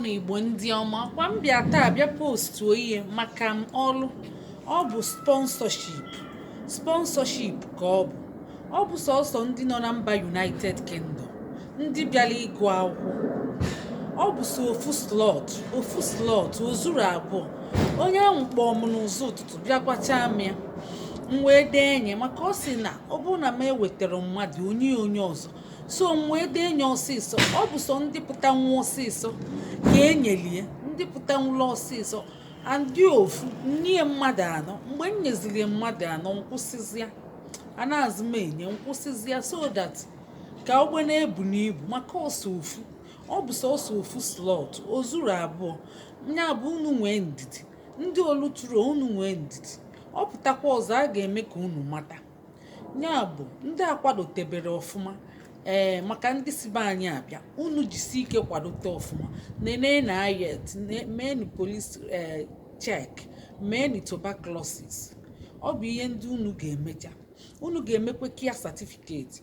Ụmụnna Igbo ndị ọma kwa m bịa taa bịa postuo ihe maka m ọlụ ọ bụ sponsorship sponsorship ka ọ bụ ọ bụ sọsọ ndị nọ na mba United Kingdom ndị bịara ịgụ akwụkwọ ọ bụ sọ ofu slot ofu slot o zuro abụọ onye ahụ kpọọ m n'ụzọ ụtụtụ bịa gwacha m ya m wee dee nye maka ọ sị na ọ bụrụ na m ewetarọ mmadụ o nye onye ọzọ so m wee dee nye ọsịsọ ọ bụ sọ ndị pụtanwu ọsịsọ ka e nyelie ndị pụtanwuru ọsịsọ andị ofu nye mmadụ anọ mgbe m nyeziri mmadụ anọ m kwụsịzịa anazị m enye m kwụsịzịa so that ka ogbe na-ebu n'ibu maka ọ sọ ofu ọ bụ sọsọ ofu slot o zuro abụọ nya bụ unu nwee ndidi ndị o lutero unu nwee ndidi ọ pụtakwa ọzọ a ga-eme ka unu mata nya bụ ndị akwadotebere ọfụma ee maka ndị si be anyị abịa unu jisi ike kwadote ọfụma neneenụ IELTS meenụ police ee check meenụ tuberculosis ọ bụ ihe ndị unu ga-emecha unu ga-emekwa care certificate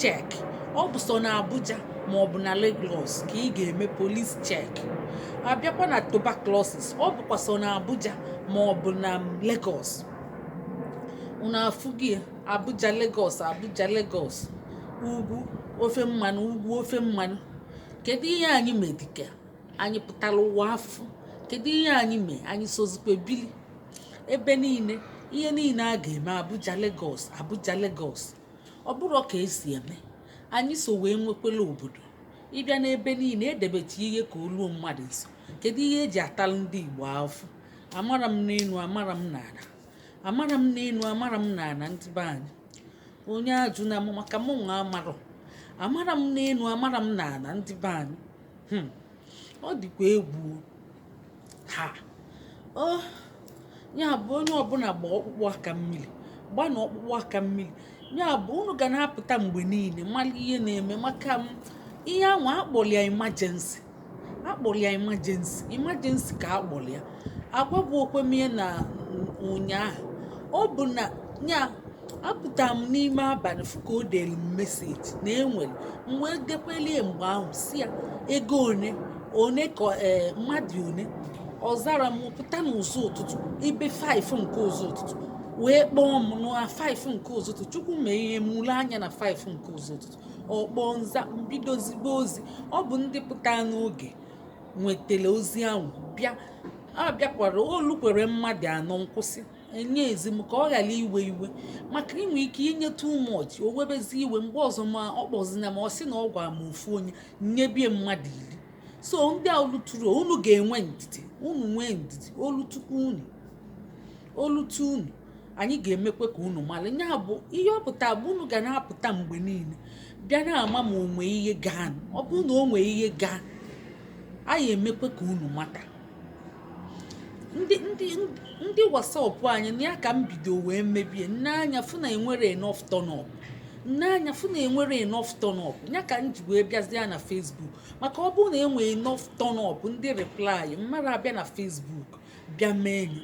check ọ bụ sọ na abuja ma ọ bụ na lagos ka ị ga-eme police check abịakwa na tuberculosis ọ bụkwa sọ na abuja ma ọ bụ na lagos unu afụghị abuja lagos abuja lagos ugwu ofe mmanụ ugwu ofe mmanụ kedu ihe anyị me dịka anyị pụtara ụwa afụ kedu ihe anyị mee anyị sozikwa bili ebe niile ihe niile a ga-eme abuja lagos abuja lagos ọ bụrọ ka e si eme anyị so wee nwekwela obodo ị bịa n'ebe niile e debecha ihe ka o luo mmadụ nso kedu ihe e ji atalụ ndị igbo afụ amara m n'elu amara m n'ala amara m n'elu amara m n'ala ndị be anyị onye ajụna mụ maka mụ nwa amarọ amara m n'elu amara m n'ala ndị be anyị hmm. ọ dịkwa egwu ha o ya bụ onye ọbụla gba ọkpụkpụ aka mmiri gba na ọkpụkpụ aka mmiri ya bụ unu ga na-apụta mgbe niile mara ihe na-eme maka m ihe ahụ a kpọrọ ya emergency a kpọrọ ya emergency emergency ka a kpọrọ ya agwagbu okwemie na ụnyaahụ ọ bụ na ya apụtara m n'ime abalị fụ ka o dere m message na e nwere m wee dekwelie mgbe ahụ sị ya ego one one ka ee mmadụ one ọ zara m pụta n'ụzọ ụtụtụ ibe 5 nke ụzọ ụtụtụ wee kpọọ m na 5 nke ụzọ ụtụtụ chukwu mee ihe mụrụ anya na 5 nke ụzọ ụtụtụ ọ kpọọ m za m bido zibe ozi ọ bụ ndị pụta n'oge nwetara ozi ahụ bịa a bịakwara o lukwere mmadụ anọ m kwụsị enyezi m ka ọ ghara iwe iwe maka i nwee ike inye too much o webezi iwe mgbe ọzọ ma ọ kpọzina ma ọ sị na ọ gwara m ofu onye m nyebie mmadụ iri so ndị a o luturu unu ga-enwe ndidi unu nwee ndidi o lutukwu unu o lutu unu anyị ga-emekwe ka unu mara ya bụ ihe ọ pụta bụ unu ga na-apụta mgbe niile bịa na-ama ma o nwe ihe gaa ọ bụ na o nwee ihe gaa anyị emekwe ka unu mata ndị ndị ndị whatsapp anyị na ya ka m bido wee mebie m nee anya fụ na enwere enough turn up m nee anya fụ na enwere enough turn up ya ka m ji wee bịazie na facebook maka ọ bụrụ na e nwee enough turn up ndị reply m mara abịa na facebook bịa mee enyi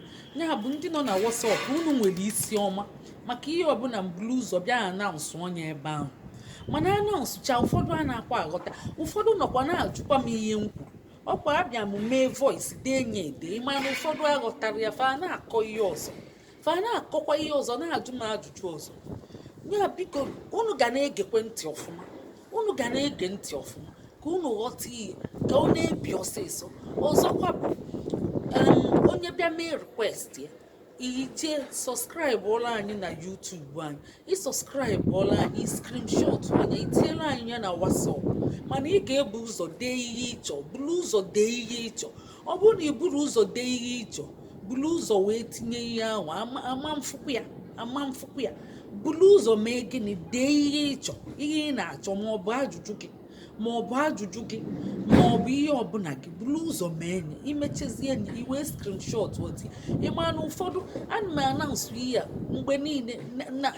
ya bụ ndị nọ na whatsapp unu nwere isi ọma maka ihe ọbụla m bulu ụzọ bịa announceọ nye ebe ahụ mana announcecha ụfọdụ anakwa aghọta ụfọdụ nọkwa na-ajụkwa m ihe m kwuru ọkwa abịa m mee voice dee nye ede mana ụfọdụ aghọtara ya fa na-akọ ihe ọzọ fa na-akọkwa ihe ọzọ na-ajụ m ajụjụ ọzọ ya biko unu ga na-egekwe ntị ọfụma unu ga na-ege ntị ọfụma ka unu ghọta ihe ka ọ na-ebi ọsịsọ ọzọkwa bụ onye bịa mee request ya i jee subscribeọla anyị na youtube anyị ị subscribeọla anyị ị screenshot nya i tiela anyị ya na whatsapp mana ị ga-ebu ụzọ dee ihe ị chọ buru ụzọ dee ihe ị chọ ọ bụrụ na ị buru ụzọ dee ihe ị chọ buru ụzọ wee tinye ihe ahụ ama m afụkwa ya ama m afụkwa ya buru ụzọ mee gịnị dee ihe ị chọ ihe ị na-achọ ma ọ bụ ajụjụ gị ma ọ bụ ajụjụ gị ma ọ bụ ihe ọbụla gị buru ụzọ mee enyi i mechezie enyi i wee screenshotọ tie ị ma na ụfọdụ ana m announce ihe a mgbe niile na- na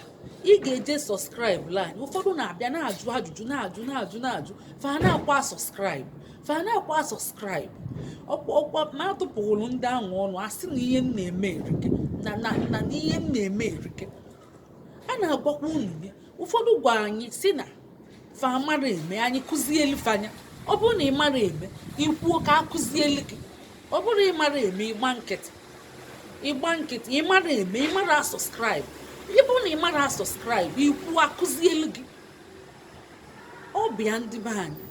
ị ga-eje subscribeọla anyị ụfọdụ na-abịa na-ajụ ajụjụ na-ajụ na-ajụ na-ajụ fa anakwa a-subscribe fa anakwa a-subscribe ọkwa ọkwa ma atụpụghụrụ ndị ahụ ọnụ a sị na ihe m na-eme erike na na na ihe m na-eme erike a na-agwakwa unu ya ụfọdụ gwa anyị sị na fa amara eme anyị kụzielu fa nya ọ bụrụ na ị mara eme i kwuo ka a kụzielu gị ọ bụrụ ị mara eme ị gba nkịtị ị gba nkịtị ị mara eme ị mara a-subscribe ọ bụrụ na ị mara a-subscribe i kwuo a kụzielu gị ọ bụ ya ndị be anyị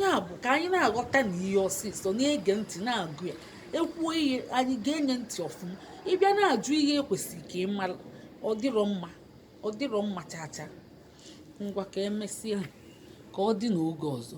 ya bụ ka anyị na-aghọtanụ ihe ọsịsọ na-ege ntị na-agụ ya e kwuo ihe anyị gee nye ntị ọfụma ịbịa na-ajụ ihe e kwesịrị ka ị mara ọ dịrọ mma ọ dịrọ mma chaa chaa ngwa ka emesịa ka ọ dị n'oge ọzọ